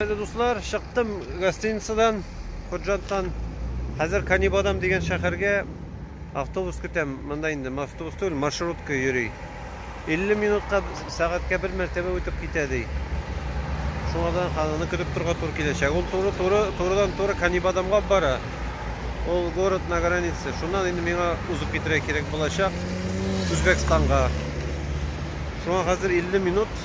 Әле дуслар, чыктым гостиницадан, Худжанттан. Хәзер Канибадам дигән шәһәргә автобус көтәм. Монда инде автобус түгел, маршрутка йөри. 50 минутка сәгатькә бер мәртәбә үтеп китә ди. Шуңадан хананы көтеп торга тур киләчәк. Ул туры туры турыдан туры Канибадамга бара. Ул город на границе. Шуннан инде миңа узып китерә кирәк булачак Үзбекстанга. Шуңа хәзер 50 минут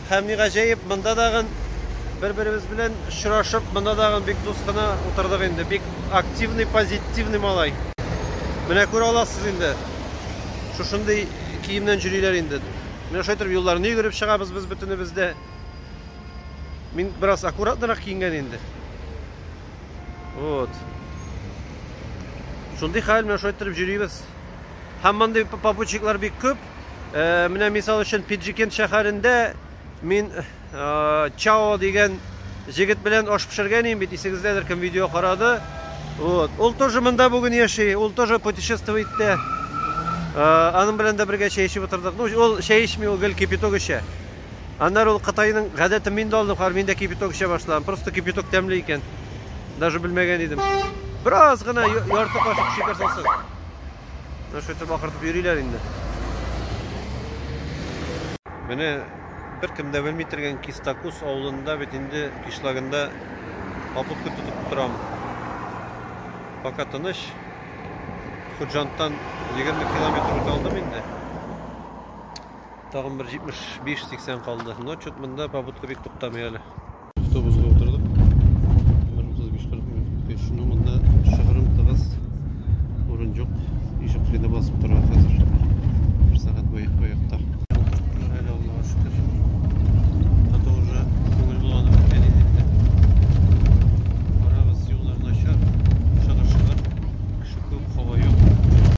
Һәм ни гаҗәеп, монда тагын бер-беребез белән очрашып, монда тагын бик дус кына утырдык инде. Бик активный, позитивный малай. Менә күрә аласыз инде. Шушындый киемнән җөриләр инде. Менә шулай торып юлларны йөгереп чыгабыз без бөтенебез дә. Мин бераз аккуратнырак киенгән инде. Вот. Шундый хәл, менә шулай торып җөрибез. Һәм мондый попутчиклар бик күп. Менә мисал өчен Пиджикент шәһәрендә мин Чао дигән җегет белән аш пешергән идем бит, исегездәдер кем видео карады. Вот. Ул тоже монда бүген яши, ул тоже путешествует тә. Аның белән дә бергә чәй эчеп утырдык. Ну, ул чәй эчми, ул гел кипяток эчә. Аннары ул Кытайның гадәтен мин дә алдым, хәзер мин дә кипяток эчә башладым. Просто кипяток тәмле икән. Даже белмәгән идем. Бераз гына ярты кашык шикәр салсаң. Шөтеп акыртып йөриләр инде. Менә беркем дә белми торган Кистакус авылында бит инде кишлагында попутка тотып торам. Пока тыныч. Худжанттан 20 километр үтә алдым инде. Тагын бер 75-80 калды. Но чут монда попутка бик туктамый әле. Автобусга утырдык. 35-40 минут үткәч, ну монда шыгырым тыгыз, урын юк. Ишек кыйда басып тора хәзер. Бер сәгать буе аякта. Әле Аллага шөкер. Хәтта уже күңел булганы беткән инде инде. Барабыз, юллар начар, шыгыр-шыгыр, кеше күп, һава юк.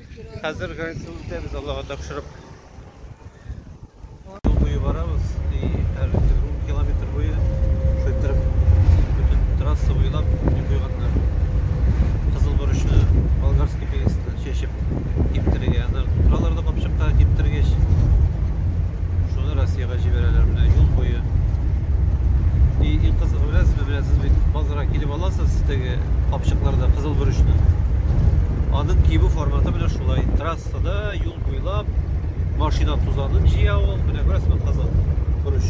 Хәзер граница үтәбез, Аллага тапшырып. Юл буе барабыз и һәр километр километр буе шайтырып бөтен трасса буйлап не куйганнар. Кызыл борычны болгарский перестан чәчеп киптерергә. Аны торалар да капчыкка киптергәч. Шуны Россиягә җибәрәләр менә юл буе. И иң кызыгы беләсезме, беләсез бит, базарга килеп аласыз, теге капчыкларда кызыл бөречне. Аның кибу форматы менә шулай. Трассада юл буйлап машина тузанын җыя ул, менә күрәсезме кызыл бөреш.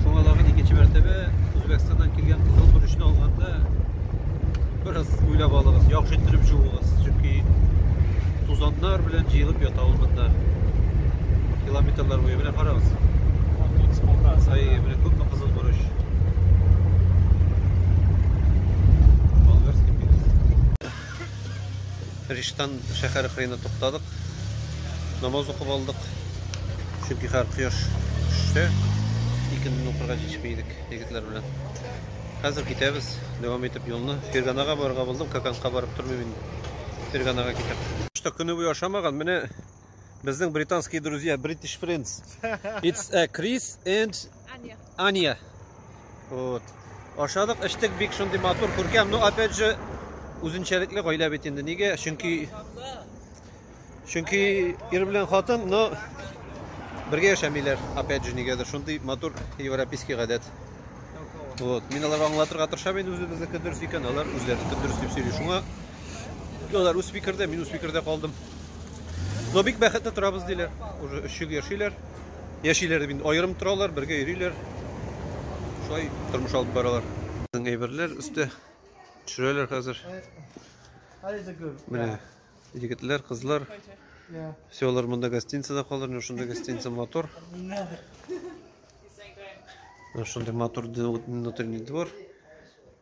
Шуңа тагын икенче мәртәбә Үзбәкстаннан килгән кызыл бөрешне алганда бераз уйлап алыгыз, яхшы иттереп җуыгыз, чөнки тузаннар белән җыелып ята ул монда. Километрлар буе менә карагыз. Ай, менә күпме кызыл борыч. Болгарский пирс. Риштан шәһәр кырыена туктадык. Намаз укып алдык. Чөнки хәр кояш төшсә, икенден укырга җитешми идек егетләр белән. Хәзер китәбез, дәвам итеп юлны. Ферганага барырга булдым, Каканка барып тормыйм инде. Ферганага китәм. Что көне буе ашамаган, менә Безнең британские друзья, British friends. It's a Chris and Аня. Аня. Вот. Ашадык, эчтек бик шундый матур, күркәм. Ну, опять же, үзенчәлекле гаилә бит инде. Нигә? Чөнки Чөнки ир белән хатын, но бергә яшәмиләр. Опять же, нигәдер шундый матур европейский гадәт. Вот. Мин аларга аңлатырга тырышам инде үзебезнеке дөрес икән, алар үзләренеке дөрес дип сөйли. Шуңа алар үз фикердә, мин үз фикердә калдым. Но бик бәхетле торабыз диләр. Уже өч ел яшиләр. Яшиләр дип инде аерым торалар, бергә йөриләр. Шулай тормыш алып баралар. Безнең әйберләр өстә төшерәләр хәзер. Менә егетләр, кызлар. Все, алар монда гостиницада калыр, но шунда гостиница мотор. Шунда мотор внутренний двор.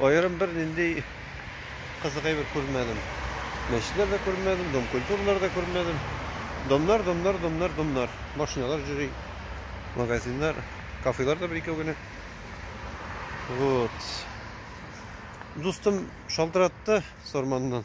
Аерым бер нинди кызык әйбер күрмәдем. Мәчетләр дә күрмәдем, дом культуралар да күрмәдем. Домнар, домнар, домнар, домнар. Машиналар җөри, магазиннар, кафелар да бер икәү генә. Вот. Дустым шалтыратты Сорманнан.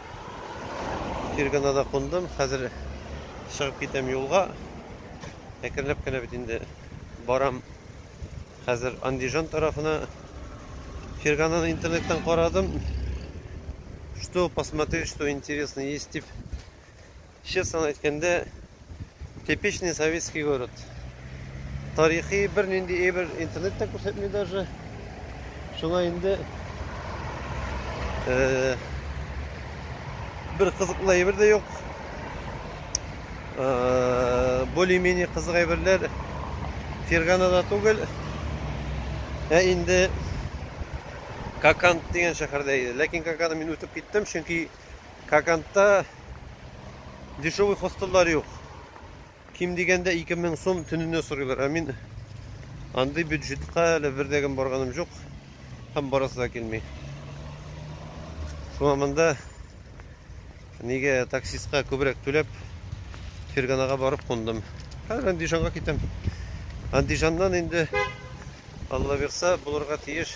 Фирганада кундым, хәзер чыгып китәм юлга. Әкренләп кенә бит инде барам. Хәзер Андижан тарафына. Фиргананы интернеттан карадым. Что посмотреть, что интересно есть дип Честно әйткәндә, типичный советский город. Тарихи бер нинди әйбер интернет та күрсәтми даже. Шуңа инде э, бер кызыклы әйбер дә юк. Э, более-менее кызык әйберләр Ферганада түгел. Ә инде Какант дигән шәһәрдә иде. Ләкин Каканны мин үтеп киттем, чөнки Кокантта дешевый хостеллар юк. Ким дигәндә 2000 сум төненә сорыйлар. Ә мин андый бюджетка әле бердәгем барганым жоқ. Һәм барасы да килми. Шуңа монда нигә таксистка күбрәк түләп Ферганага барып кундым. Хәзер Андижанга китәм. Андижаннан инде Алла бирса булырга тиеш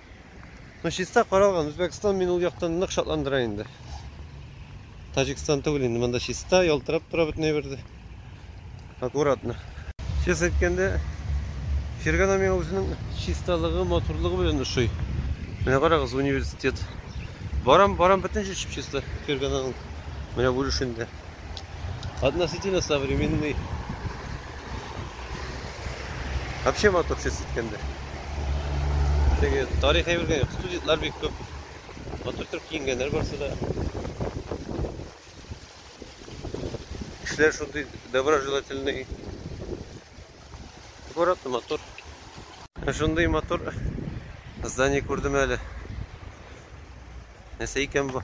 Ну, чиста каралган. Үзбәкстан мин ул яктан нык шатландыра инде. Таҗикстан түгел инде. Монда чиста, ялтырап тора бөтенләй берде. Аккуратно. Чис әйткәндә, Фергана миңа үзенең чисталыгы, матурлыгы белән ошый. Менә карагыз, университет. Барам, барам бөтенчә чиста Фергананың. Менә бүлешендә. Относительно современный Вообще мотор ses etkende. Теге тарих әйбергә студентлар бик күп. Мотор торып киенгәннәр барсы да. Кешеләр шундый доброжелательный. Город мотор. Шундый мотор здание күрдем әле. Нәрсә икән бу?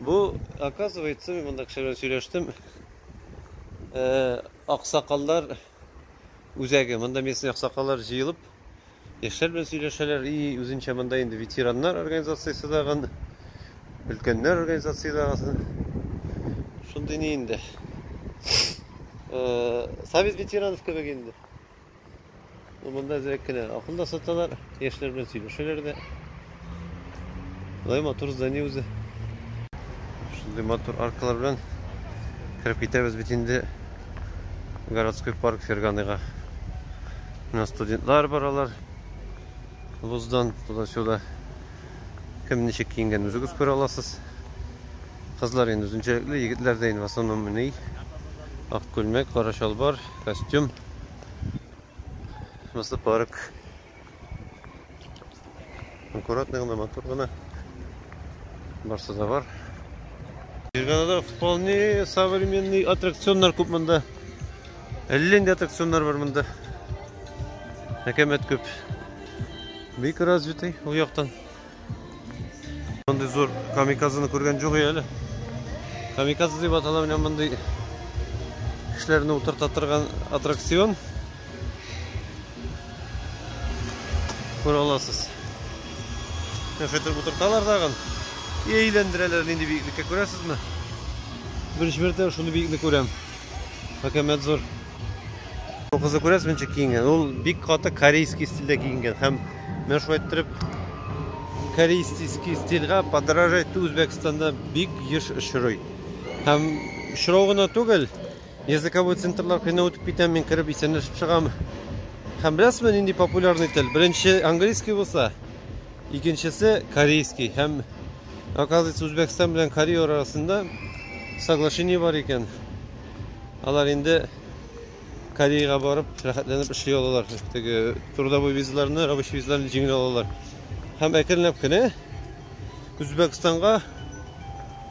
Бу, оказывается, мин монда кеше белән сөйләштем. Э, аксакаллар үзәге. Монда местный аксакаллар җыелып, яшьләр белән сөйләшәләр и үзенчә монда инде ветераннар организациясе дагын, өлкәннәр организациясе дагын. Шундый ни инде. Э, совет ветеранов кебек инде. Монда әзрәк кенә акын да саталар, яшьләр белән сөйләшәләр дә. Болай матур здание үзе. Шундый матур аркалар белән кереп китәбез бит инде городской парк Ферганыйга. Менә студентлар баралар. Вуздан туда-сюда. Кем ничек киенгән үзегез күрә аласыз. Кызлар инде үзенчәлекле, егетләр дә инде в основном ни. Ак күлмәк, кара чалбар, костюм. Шунысы парк. Аккуратный гына, матур гына. Барсы да бар. Ферганада вполне современный аттракционнар күп монда. Әллә инде аттракционнар бар монда. Әкәмәт күп. Бик развитый ул яктан. Мондый зур камикадзаны күргән юк әле. Камикадзе дип атала менә мондый кешеләрне утырта торган аттракцион. Күрә аласыз. Нәфетер утырталар дагын. И әйләндерәләр нинди биеклеккә күрәсезме? Беренче мәртәбә шундый биекне күрәм. Хакәмәт зур. Бу кызы күрәсез мичә киенгән. Ул бик каты корейский стильдә киенгән һәм менә шулай иттереп корейский стильгә подражать Үзбәкстанда бик еш очрый. Һәм очрау гына түгел, языковой центрлар кыйна үтеп китәм, мин кереп исәнләшеп чыгам. Һәм беләсезме, нинди популярный тел? Беренче английский булса, икенчесе корейский. Һәм оказывается, Үзбәкстан белән Корея арасында соглашение бар икән. Алар инде Кореяга барып, рәхәтләнеп эшли алалар. Теге трудовой визаларны, рабочий визаларны җиңел алалар. Һәм әкренләп кенә Үзбәкстанга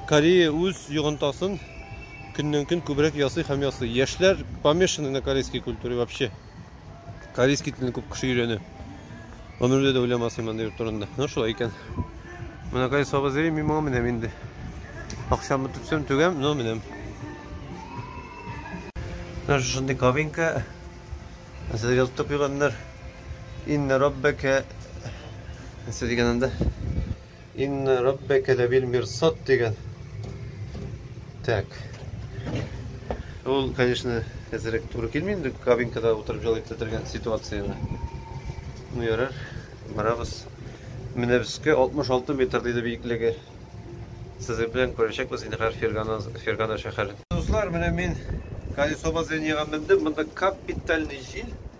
Корея үз йогынтасын көннән-көн күбрәк ясый һәм ясый. Яшьләр помешаны на корейской культуре вообще. Корейский телне күп кеше өйрәнә. Гомердә дә уйламас иман йорт турында. Ну шулай икән. Менә кай саба зрим, мин моңа менәм инде. Акчамны түксәм түгәм, но менәм. Менә шушындый кабинка. Нәрсә дигән тукыганнар. Инна раббака. Нәрсә дигән анда? Инна раббәкә ләбил мирсад дигән. Так. Ул, конечно, әзерәк туры килми инде кабинкада утырып җылы итә торган ситуацияне. Ну, ярар, барабыз. Менә безгә 66 метр диде биеклеге. Сезнең белән күрешәкбез инде хәр Фергана, Фергана шәһәре. Дуслар, менә мин колесо базыйнега мендем. Монда капитальный җил.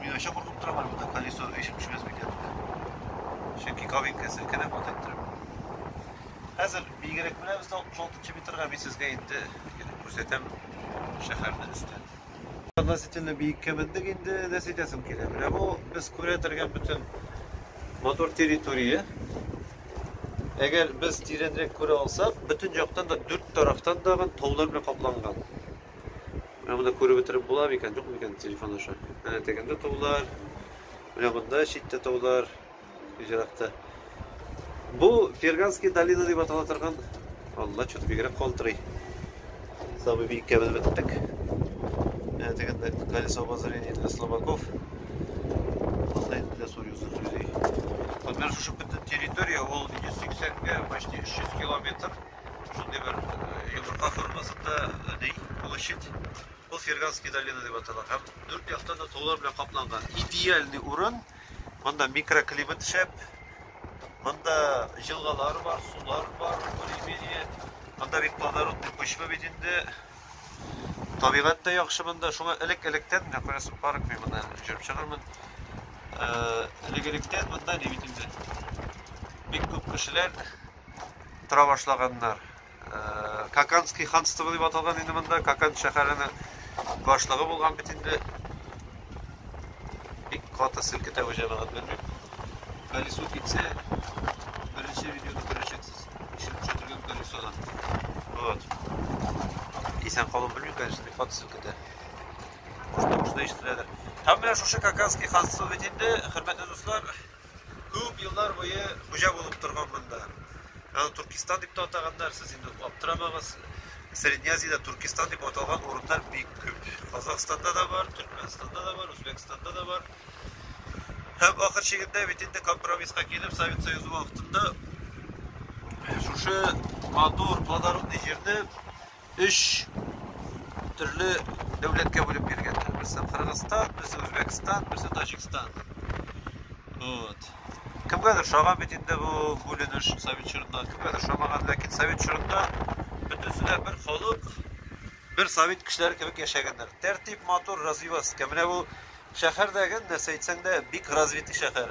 Мин вообще куркып торам әле монда колесо өйшеп төшмәс микән дип. Чөнки кабинка селкенеп вот иттереп. Хәзер бигрәк менә без 66 метрга мин сезгә инде килеп күрсәтәм шәһәрне өстән. Относительно биеккә мендек инде нәрсә әйтәсем килә. Менә бу без күрә торган бөтен мотор территория. Әгәр без тирәнрәк күрә алсак, бөтен яктан да дүрт тарафтан да таулар белән капланган. Менә монда күреп бетереп була микән, юк микән телефон аша. Менә тегендә таулар. Менә монда читтә таулар. Җирәктә. Бу Ферганский долина дип атала торган. Алла чөт бигрәк калтырый. Сабый биккә без беттек. Менә тегендә колесо обозрения для слабаков. Анда инде сүз юзы сүзи. Вот менә шушы бөтен территория ул 180 гә почти 300 километр. Шундый бер йомырка формасында ни, площадь. Ул Ферганский долина дип атала. Һәм дүрт яктан да таулар белән капланган. Идеальный урын. Монда микроклимат шәп. Монда җылгалар бар, сулар бар, более-менее. Монда бит плодородный почва бит инде. Табигать та яхшы монда. Шуңа элек-электән, менә күрәсең, парк мин монда җөреп чыгармын. Элек-электән монда ни бит инде. Бик күп кешеләр тора башлаганнар. Э, Каканский ханство дип аталган инде монда, Какан шәһәренең башлыгы булган бит инде. Бик каты селкетә бу җәмәгать белмим. Колесо китсә, беренче видеоны күрәчәксез. Ишек төшерелгән колесодан. Вот. Исән калып белмим, конечно, бик каты селкетә. Кушта-кушта ишетеләдер. Һәм менә шушы Каканский ханство бит инде, хөрмәтле дуслар, Күп еллар буе хуҗа булып торган монда. Аны Туркестан дип тә атаганнар, сез инде аптырамагыз. Средняя Азиядә Туркестан дип аталган урыннар бик күп. Казахстанда да бар, Төркменстанда да бар, Үзбәкстанда да бар. Һәм ахыр чигендә бит инде компромисска килеп, Совет Союзы вакытында шушы матур, плодородный җирне Өч төрле дәүләткә бүлеп биргәннәр. Берсе Кыргызстан, берсе Үзбәкстан, берсе Таҗикстан. Вот. Кемгәдер шаган бит инде бу бүленеш совет чорында, кемгәдер шамаган, ләкин совет чорында бөтенесе дә бер халык, бер совет кешеләре кебек яшәгәннәр. Тәртип, матур, развиваска. Менә бу Шәһәр дәген нәрсә әйтсәң дә, бик развитый шәһәр.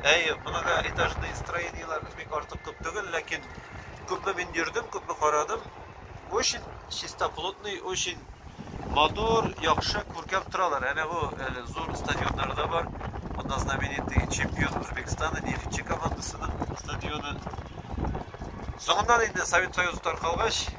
Әй, моны да этажный строениелар бик артык күп түгел, ләкин күпме мин йөрдем, күпме карадым, очень чистоплотный, очень матур, яхшы, күркәм торалар. Әнә бу әле зур стадионнары да бар. Монда знаменитый чемпион Үзбекстаны, нефтьче командасының стадионы. Соңыннан инде Совет Союзы таркалгач,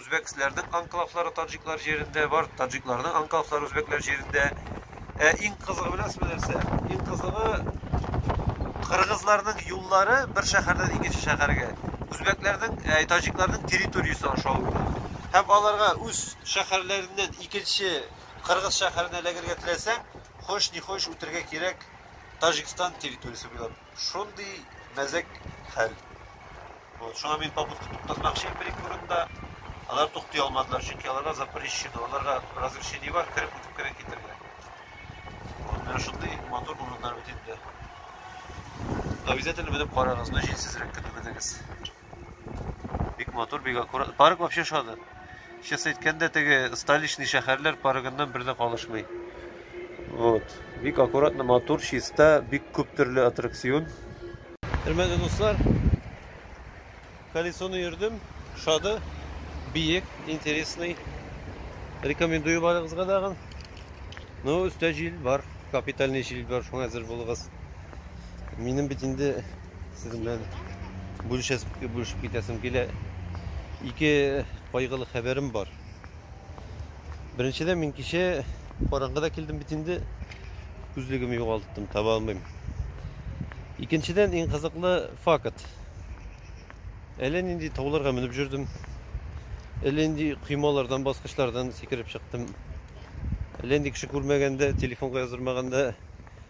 Үзбәксләрнең анклавлары таҗиклар җирендә бар, таҗикларның анклавлары үзбәкләр җирендә. Ә иң кызыгы беләсезме нәрсә? Иң кызыгы кыргызларның юллары бер шәһәрдән икенче шәһәргә үзбәкләрнең, ә, таҗикларның территориясе аша үтә. Һәм аларга үз шәһәрләреннән икенче кыргыз шәһәренә эләгергә теләсәң, хош ни хош үтергә кирәк Таҗикстан территориясе буйлап. Шундый мәзәк хәл. Вот, шуңа мин попутка туктатмакчы идем бер-ике урында. Алар туктый алмадылар, чөнки аларга запрещено, аларга разрешение бар, кереп үтеп кенә китергә. Вот, менә шундый мотор урыннар бит инде. Обязательно менеп карагыз, но җилсезрәк көтеп бетегез. Бик матур, бик аккурат. Парк вообще шады. Чысы әйткәндә, теге столичный шәһәрләр парыгыннан бер дә калышмый. Вот. Бик аккуратно, матур, чиста, бик күп төрле аттракцион. Хөрмәтле дуслар, колесоны йөрдем, шады, биек, интересный. Рекомендую барыгызга дагын. Ну, өстә җил бар, капитальный җил бар, шуңа әзер булыгыз. Минем бит инде Сезнең белән бүлешәсем, бүлешеп китәсем килә. Ике кайгылы хәбәрем бар. Беренчедән мин кичә караңгыда килдем бит инде. Күзлегем югалттым, таба алмыйм. Икенчедән иң кызыклы факт. Әле нинди тауларга менеп жүрдем. Әле нинди коймалардан, баскычлардан сикереп чыктым. Әле нинди кеше күрмәгәндә, телефонга яздырмаганда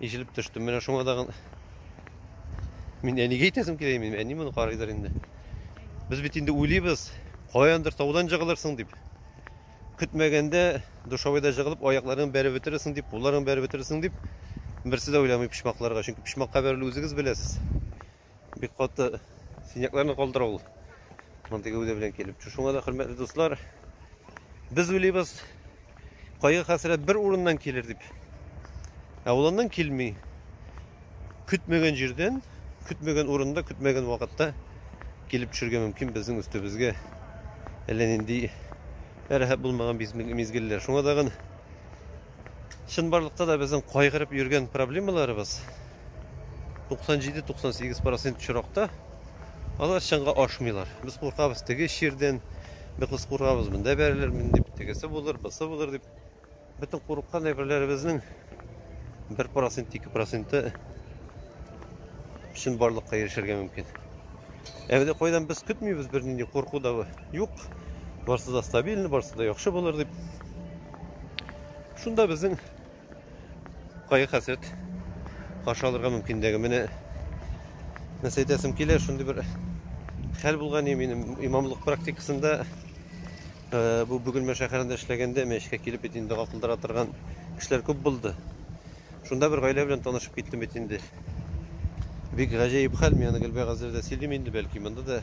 Ишелеп төштем. Менә шуңа да мин әнигә әйтәсем килә, мин әни моны карыйдыр инде. Без бит инде уйлыйбыз, каяндыр таудан жыгылырсың дип. Көтмәгәндә душавайда жыгылып, аякларың бәреп бетерерсең дип, кулларың бәреп бетерерсең дип, берсе дә уйламый почмакларга. Чөнки почмакка бәрелү үзегез беләсез. Бик каты синякларны калдыра ул. Мондый гәүдә белән килеп. Шуңа да хөрмәтле дуслар, без уйлыйбыз, кайгы хәсрәт бер урыннан килер дип. Ә ул аннан килми. Көтмәгән җирдән, көтмәгән урында, көтмәгән вакытта килеп төшергә мөмкин безнең өстебезгә әллә нинди рәхәт булмаган мизгелләр. Шуңа тагын Чынбарлыкта да безнең кайгырып йөргән проблемаларыбыз 97-98% очракта алар чынга ашмыйлар. Без куркабыз теге чирдән, без куркабыз монда бәрелер мин дип, тегесе булыр, бысы булыр дип. Бөтен курыккан әйберләребезнең 1%-2% чын барлыкка ирешергә мөмкин. Әмәдә кайдан без көтмибез бернинди курку да юк. Барсы да стабильный, барсы да яхшы булыр дип. Шунда безнең кайгы хәсрәт каршы алырга мөмкинлеге. Менә нәрсә әйтәсем килә, шундый бер хәл булган минем имамлык практикасында э, бу Бөгелмә шәһәрендә эшләгәндә мәчкә килеп бит инде дога кылдыра торган кешеләр күп булды. Шунда бер гаилә белән танышып киттем бит инде. Бик гаҗәеп хәл, мин аны Гөлбәгазләрдә сөйлим инде, бәлки монда да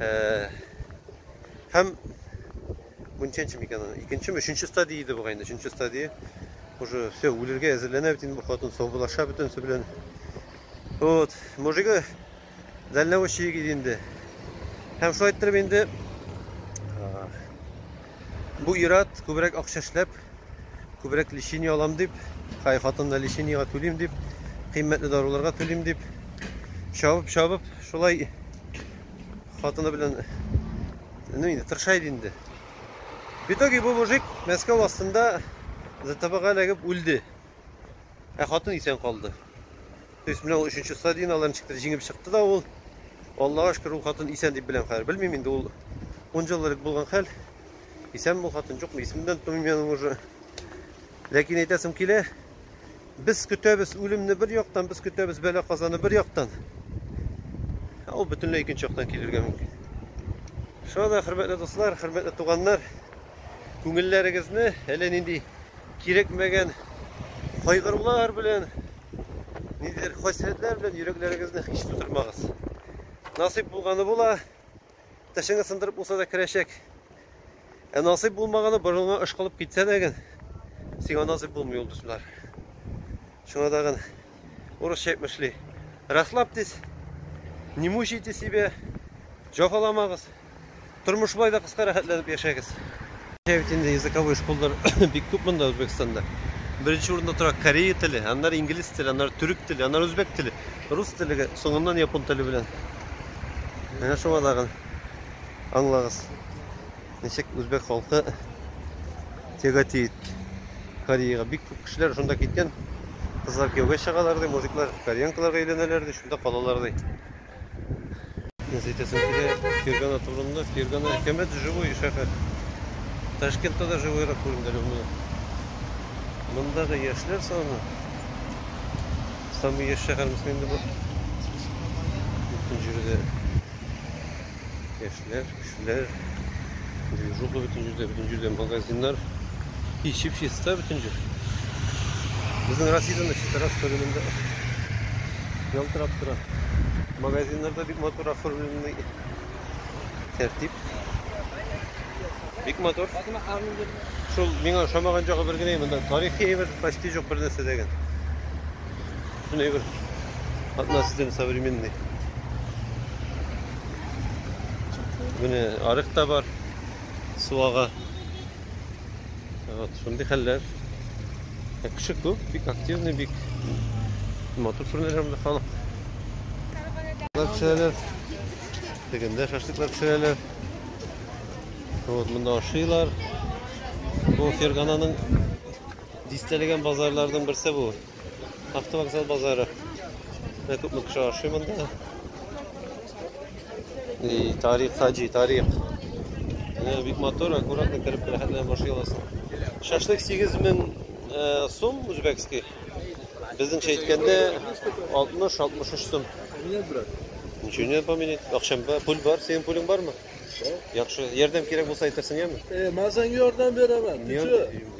Э, һәм бу ничәнче микән аны икенчеме өченче стадия иде бугай инде өченче стадия уже все үлергә әзерләнә бит инде бу хатын саубулаша бөтенесе белән вот мужигы дальнобойщик иде инде һәм шулай иттереп инде бу ират күбрәк акча эшләп Күбрәк лечение алам дип, хай хатынына лечениега түлим дип, кыйммәтле даруларга түлим дип, чабып-чабып, шулай хатыны белән ну инде тырыша иде инде. В итоге бу мужик Мәскәү астында ЗТБга эләгеп үлде. Ә хатын исән калды. То есть менә ул өченче стадияне алар ничектер җиңеп чыкты да ул. Аллага шөкер, ул хатын исән дип беләм хәзер. Белмим инде ул 10 ел элек булган хәл. Исән бул хатын юкмы? Исемдән тумыйм мин уже. Ләкин әйтәсем килә, без көтәбез үлемне бер яктан, без көтәбез бәла казаны бер яктан. Ә ул бөтенләй икенче яктан килергә мөмкин. Шуңа да хөрмәтле дуслар, хөрмәтле туганнар, күңелләрегезне әллә нинди кирәкмәгән кайгырулар белән, ниндидер хәсрәтләр белән йөрәкләрегезне һич тутырмагыз. Насыйп булганы була, Тешеңе сындырып булса да керәчәк. Ә насыйп булмаганы борынга ышкылып китсә дә гын, сиңа насыйп булмый ул дуслар. Шуңа да гын урысча әйтмешли. Расслабьтесь, не мучайте себя, җафаламагыз. Тормыш болай да кыска рәхәтләнеп яшәгез. Менә бит инде языковой школалар бик күп монда Үзбәкстанда. Беренче урында тора Корея теле, аннары инглиз теле, аннары төрек теле, аннары үзбәк теле, рус теле, соңыннан япон теле белән. Менә шуңа тагын аңлагыз. Ничек үзбәк халкы тяготеет Кореяга. Бик күп кешеләр шунда киткән. Кызлар кияүгә чыгалар ди, мужиклар кореянкаларга өйләнәләр ди, шунда калалар ди. Нәрсә әйтәсең килә? Фергана турында. Фергана әкәмәт живой шәһәр. Ташкентта да живойрак күренде әле монда. Мондагы яшьләр саны самый яшь шәһәрмесме инде бу? Бөтен җирдә Кешеләр, кешеләр. Движуха бөтен җирдә, бөтен җирдә магазиннар. Ишеп чиста бөтен җир. Безнең Россиядә дә чистарак сөрелемдә. Ялтырап тора. Магазиннарда бик матур оформленный. Тәртип. Бик матур. Шул миңа ошамаган җагы бер генә монда тарихи әйбер почти җок бер нәрсә дә генә. Шуны әйбер. Относительно современный. Менә арык та бар. Су ага. Вот, шундый хәлләр. Ә кеше күп, бик активный, бик матур күренеш һәм халык. Пешерәләр. Тегендә шашлыклар пешерәләр. Вот, монда ашыйлар. Бу Фергананың дистәлеген базарларның берсе бу. Автовокзал базары. Менә күпме кеше ашый монда. И тарих хаҗи, тарих. Менә бик матур, аккуратно кереп рәхәтләнеп ашый аласың. Шашлык 8000 э, сум үзбәкский. Безнеңчә әйткәндә 60-63 сум. Нет, брат. Ничего не поменять. Акшам бар, пул бар, синең пулың бармы? Яхшы. Ярдәм кирәк булса әйтерсең, яме? Э, мазан ярдәм берәмен. Ничего?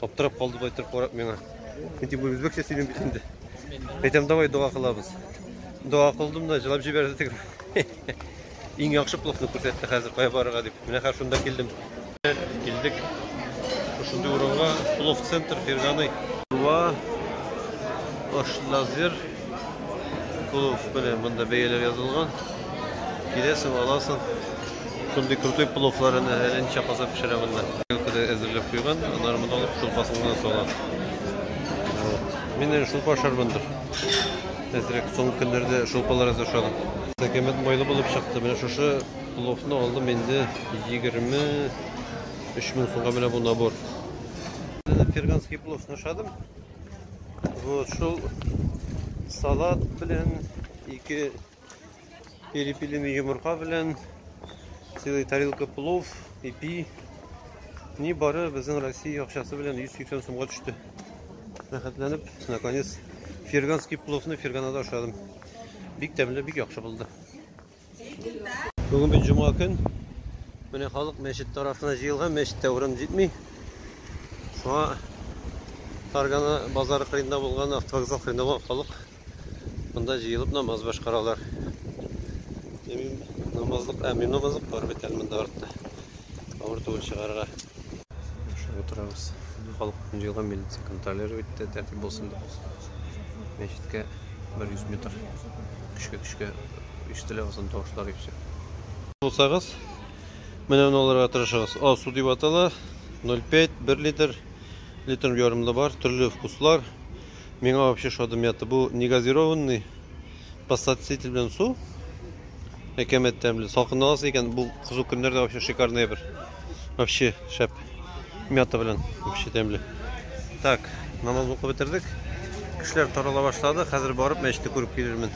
Аптырап калды былай торып карап миңа. Ничек бу үзбәкчә сөйлим бит инде. Әйтәм, давай дога кылабыз. Дога кылдым да җылап җибәрде теге. Иң яхшы плохны күрсәтте хәзер кая барырга дип. Менә хәзер шунда килдем. Килдек. Шундый урынга Плов центр Ферганый. Ва Ош лазер. Плов белән монда бәяләр язылган. Киләсең, аласың. Шундый крутой пловлар әнә әле ничә казан пешерә монда. Көлкедә әзерләп куйган, аннары монда алып шулпасын гына сала. Мин шулпа ашармын дип. Әзрәк соңгы көннәрдә шулпалар әз ашадым. Сәкәмәт майлы булып чыкты. Менә шушы пловны алдым инде 23 мең сумга менә бу набор. Перганский плов ашадым. Вот шул салат белән ике Перепилим йомырка белән целый тарелка плов, ипи. Ни бары безнең Россия акчасы белән 180 сумга төште. Рәхәтләнеп, наконец, ферганский пловны ферганада ашадым. Бик тәмле, бик яхшы булды. Бүгін бит жума көн. Менә халык мәчет тарафына җыелган, мәчеттә урын җитми. Шуңа Таргана базары кырында булган автовокзал кырында булган халык Монда җыелып намаз башкаралар. Әмин намазлык, әмин намазлык бар бит әле монда артта. Авыр түгел чыгарга. Яшәп утырабыз. Халык җыелган милиция контролер итте, тәртип булсын дип. Мәчеткә 100 метр. Көчкә-көчкә ишетелә озын тавышлар ишетсә. Булсагыз, менә моны алырга тырышыгыз. Асу дип атала. 0,5 1 литр литр ярымлы бар, төрле вкуслар. Миңа вообще шады мята. Бу негазированный подсластитель белән су. Әкәмәт тәмле. Салкында аласы икән, бу кызу көннәрдә вообще шикарный бер. Вообще шәп. Мята белән вообще тәмле. Так, намаз укып бетердек. Кешеләр тарала башлады. Хәзер барып мәчетне күреп килермен.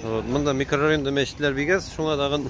Вот, монда микрорайонда мәчетләр бигәс, шуңа тагын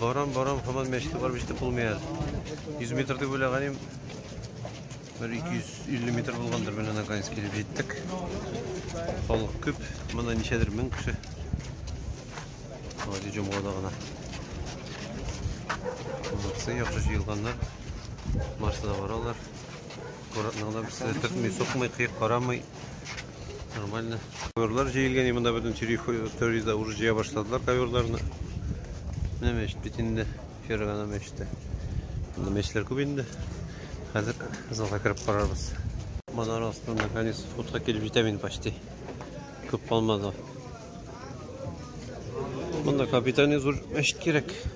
Барам, барам, хаман мәчеткә барып җитеп булмый әле. 100 метр дип уйлаганым. Бер 250 метр булгандыр, менә наконец килеп җиттек. Халык күп, монда ничәдер мең кеше. Гади җомгада гына. Молодцы, яхшы җыелганнар. Марсына баралар. Аккуратно гына берсе төртми, сукмый, кыек карамый. Нормально. Коверлар җыелган, и монда бөтен территориядә уже җыя башладылар коверларны. Менә мәчет бит инде, Фергана мәчете. Монда мәчетләр күп инде. Хәзер залга кереп карарбыз. Манара астында наконец фотка килеп җитәм инде почти. Күп калмады. Монда капитальный зур мәчет кирәк.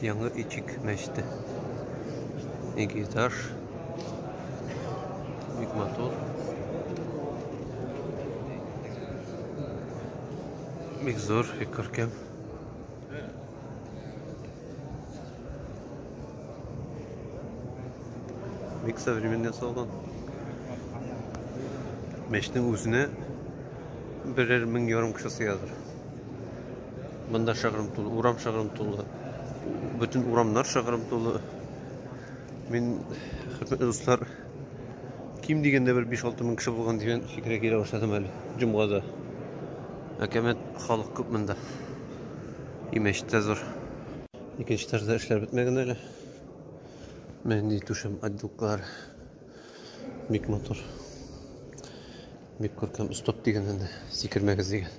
Яңа Ичик мәчете. Ике этаж. Бик матур. Бик зур, бик күркәм. Бик современный ясалган. Мәчетнең үзенә берәр мең ярым кеше сыядыр. Монда шыгрым тулы, урам шыгрым тулы. Бөтен урамнар шыгрым тулы. Мин, хөрмәтле дуслар, ким дигәндә бер 5-6 мең кеше булган дигән фикергә килә башладым әле җомгада. Әкәмәт халык күп монда. Имеш тә зур. Икенче тарда эшләр бетмәгән әле. Менди түшәм отделкалар. Бик матур. Бик күркәм стоп дигән инде, сикермәгез дигән.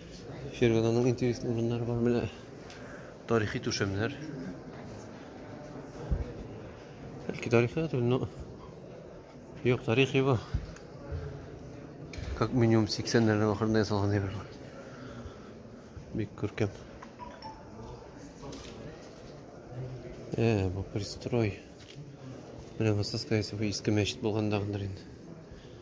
Фергананың интересный урыннары бар менә. Тарихи түшәмнәр. Бәлки тарихи түгел, но юк, тарихи бу. Как минимум 80-ләрнең ахырында ясалган әйбер бар. Бик күркәм. Э, бу пристрой. Менә Высоцкая исеме иске мәчет булгандагыдыр инде.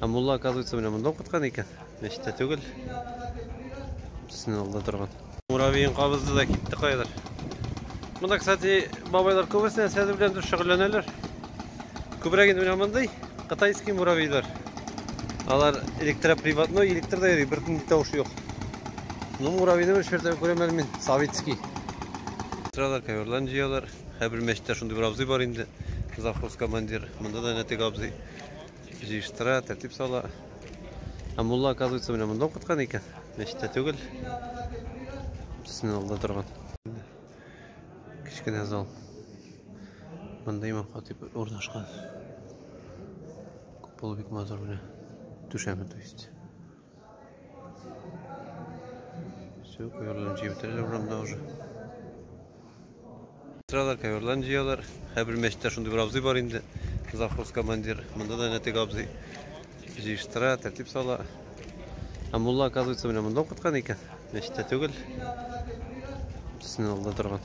Ә мулла, оказывается, менә монда укыткан икән. Мәчеттә түгел. Синең алда торган. Муравейын кабызды да китте кайдыр. Монда, кстати, бабайлар күбесе нәрсәләр белән дә шөгыльләнәләр. Күбрәк инде менә мондый кытайский муравейлар. Алар электроприводной, электр да йөри, бер көн тавыш юк. Ну, муравейны бер шертә күрәм әле мин, советский. Тыралар, коверларын җыялар. Һәрбер мәчеттә шундый бер абзый бар инде, завхоз командир. Монда да нәтек абзый җыештыра, тәртип сала. Ә мулла, оказывается, менә монда укыткан икән. Мәчеттә түгел. Синең алда торган. Кечкенә зал. Монда имам хатип урнашкан. Купол бик матур менә. Түшәме, то есть. Все, коверларын җыеп бетерәләр урамда уже. Сразу коверларын җыялар. Һәрбер мәчеттә шундый бер абзый бар инде. Завхоз командир. Монда да нәтек абзый. Җыештыра, тәртип сала. Ә мулла, оказывается, менә монда укыткан икән. Мәчеттә түгел. Синен алда торган.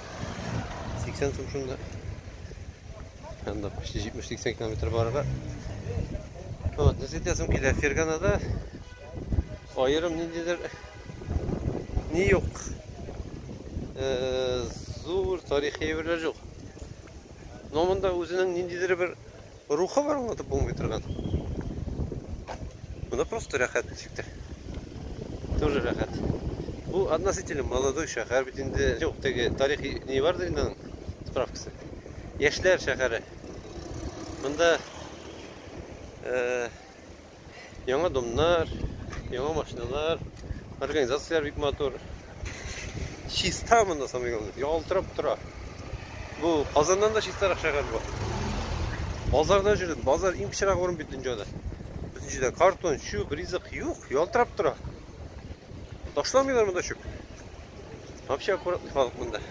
80 сум шунда. Анда почти 70-80 километр барырга. Вот, нәрсә итәсем килә Ферганада аерым ниндидер ни юк. Э, зур тарихи әйберләр юк. Но монда үзенең ниндидер бер Рухы бар аңлатып булмый торган. Монда просто рәхәт ничек тә. Тоже рәхәт. Бу относительно молодой шәһәр бит инде. Юк, теге тарихи не бардыр инде аның справкасы. Яшьләр шәһәре. Монда э Яңа домнар, яңа машиналар, организацияләр бик матур. Чиста монда самый главное, ялтырап тора. Бу Казаннан да чистарак шәһәр бу. Базарда җөрдем, базар иң пычрак урын бит дөньяда. Бөтенчедә картон, чүп, ризык юк, ялтырап тора. Ташламыйлар монда чүп. Вообще аккуратный халык монда.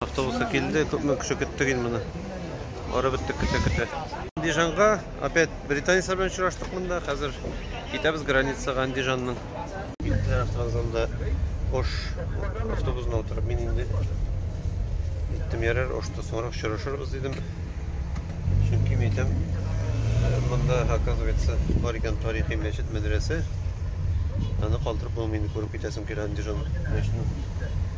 Автобусы килде, күпме кеше көттек инде моны. Ары беттек көтә-көтә. Андижанга опять британецлар белән очраштык монда. Хәзер китәбез границага Андижанның. Киттеләр автовокзалда Ош автобусына утырып мин инде иттем ярар Ошта соңрак очрашырбыз дидем. Чөнки мин әйтәм, монда оказывается бар икән тарихи мәчет, мәдрәсә. Аны калдырып булмый инде күреп китәсем килә Андижан мәчетен.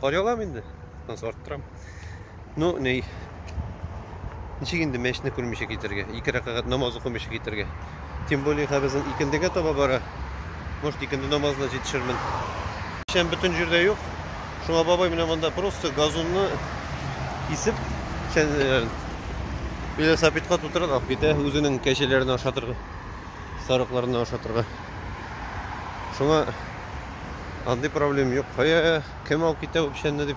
Кар ялам инде. Тынс арттырам. Ну, ней. Ничек инде мәчне күрмичә китергә? Ике рәкәгать намаз укымыйча китергә. Тем более хәбезен икендегә таба бара. Может, икенде намазына җитешермен. Шәм бөтен җирдә юк. Шуңа бабай менә монда просто газонны кисеп, шәнләрен велосипедка тутырып алып китә, үзенең кәҗәләрен ашатырга, сарыкларны ашатырга. Шуңа Андый проблем юк. Кая кем алып китә бу печәнне дип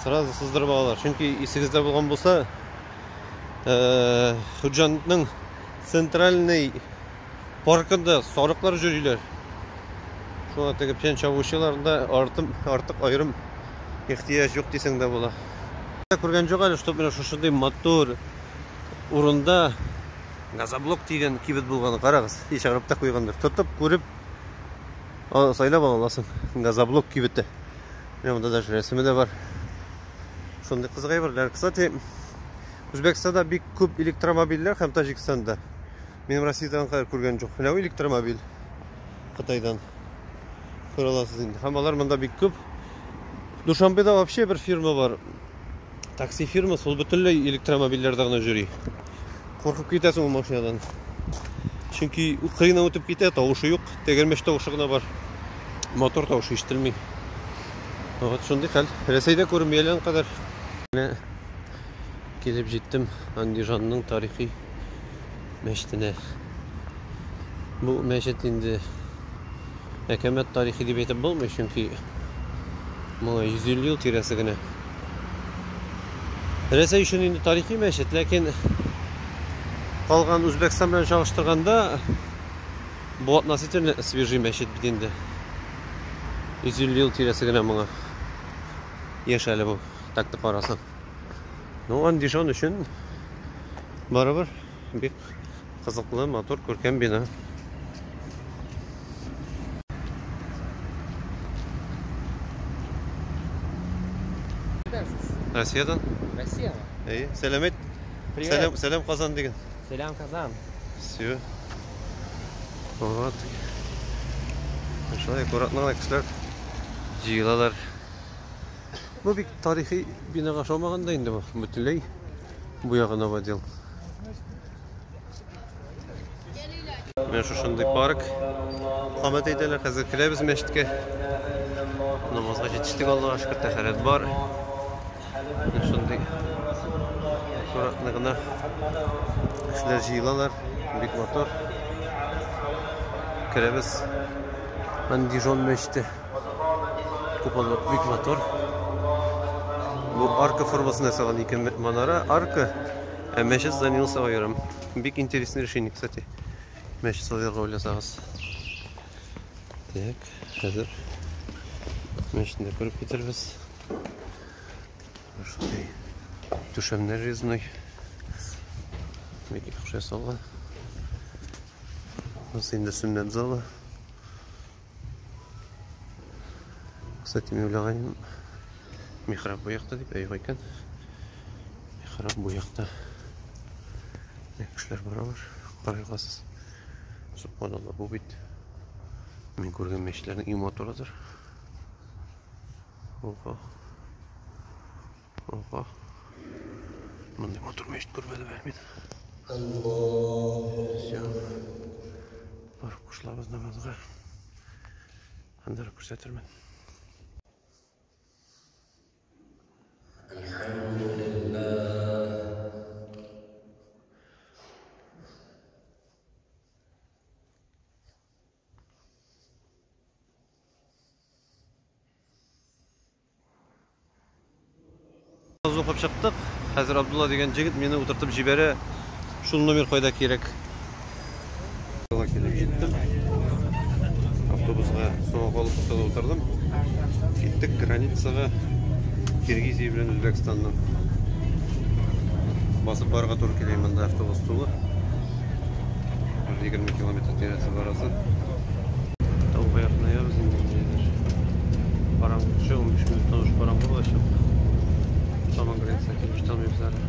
сразу сыздырып алалар. Чөнки исегездә булган булса, Хуҗанның центральный паркында сарыклар җөриләр. Шуңа теге печән чабучыларында артым артык аерым ихтияҗ юк дисең дә була. Күргән җок әле, чтоб менә шушындый матур урында газоблок дигән кибет булган. Карагыз, ишегалып та куйгандыр. Тотып күреп сайлап ала аласың газоблок кибете менә монда даже рәсеме дә бар шундый кызык әйберләр кстати үзбәкстанда бик күп электромобильләр һәм таҗикстанда минем россиядан кадәр күргән жоқ менә электромобиль қытайдан күрә аласыз инде һәм алар монда бик күп душанбеда вообще бер фирма бар такси фирмасы ул бөтенләй электромобильләрдә генә йөри куркып китәсең ул машинадан чөнки кыйна үтеп китә тавышы юк тәгәрмәч тавышы гына бар мотор тавышы ишетелми вот шундый хәл рәсәйдә күренми әле кадәр менә килеп җиттем андижанның тарихи мәчетенә бу мәчет инде әкәмәт тарихи дип әйтеп булмый чөнки моңа 150 ел тирәсе генә Рәсәй өчен инде тарихи мәчет, ләкин калган Үзбәкстан белән чагыштырганда бу относительно свежий мәчет бит инде. 150 ел тирәсе генә моңа. Яшь әле бу, так-то карасаң. Ну, андижан өчен барыбер Бик кызыклы, матур, күркәм бина. Россиядән? Россия. Әйе, сәлам әйт. Привет. Сәлам, сәлам Казан диген. Сәлам Казан. Все. Вот. Шулай аккуратно кешеләр җыелалар. Бу бик тарихи бинага ошамаган да инде бу. Бөтенләй бу ягы новодел. Менә шушындый парк. Хәмәт әйтәләр, хәзер керәбез мәчеткә. Намазга җитештек Аллага шөкер, тәһарәт бар. Менә шундый аккуратны гына кешеләр җыелалар. Бик матур. Керәбез. Андижон мәчете. Куполы бик матур. Бу арка формасында ясалган ике манара, арка, ә мәчет зданиясе сау ярым. Бик интересный решение, кстати. Мәчет салырга уйласагыз. Так, хәзер мәчетне күреп китербез. Шундый түшәмнәр резной. Бик яхшы ясалган. Ус инде сүннәт залы. Кстати, мен уйлаганым, михраб бу якта дип, ә юк икән. Михраб бу якта. Кешеләр баралар, карайгасыз. Субханалла, бу бит мин күргән мәчетләрнең иң матурыдыр. Ого. Ого. Мондый матур мәчет күрмәдем әле мин. Все. Барып кушылабыз намазга. Андыр күрсәтермен. Аз укып чыктык. Хәзер Абдулла дигән җегет мине утыртып җибәрә. Шул номер кайда кирәк? Автобусга суга калып куса утырдым. Киттек границага. Киргизия белән Үзбәкстанның басып барырга туры килә монда автобус тулы. 20 километр тирәсе барасы. Тауга якынаябыз инде ниндидер. Караңгы төшә, 15 минуттан уж караңгы булачак. Шаман граница килеш танымыйбыз әле.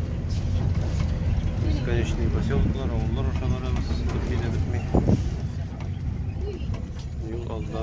Бесконечный поселоклар, авыллар аша барабыз, бер битми. Юл алда.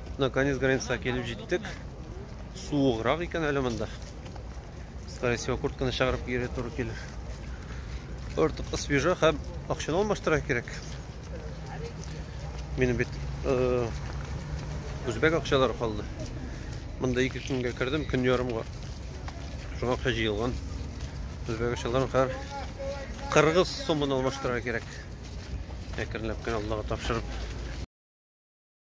Мына конец границага килеп җиттек. Суыграк икән әле монда. Скорее всего, куртканы чыгарып кире туры килер. Артык свежа һәм акчаны алмаштыра кирәк. Минем бит э, үзбәк акчалары калды. Монда ике көнгә кердем, көн ярымга. Шуңа акча җыелган. Үзбәк акчаларын хәр кыргыз сумын алмаштыра кирәк. Әкренләп кенә Аллага тапшырып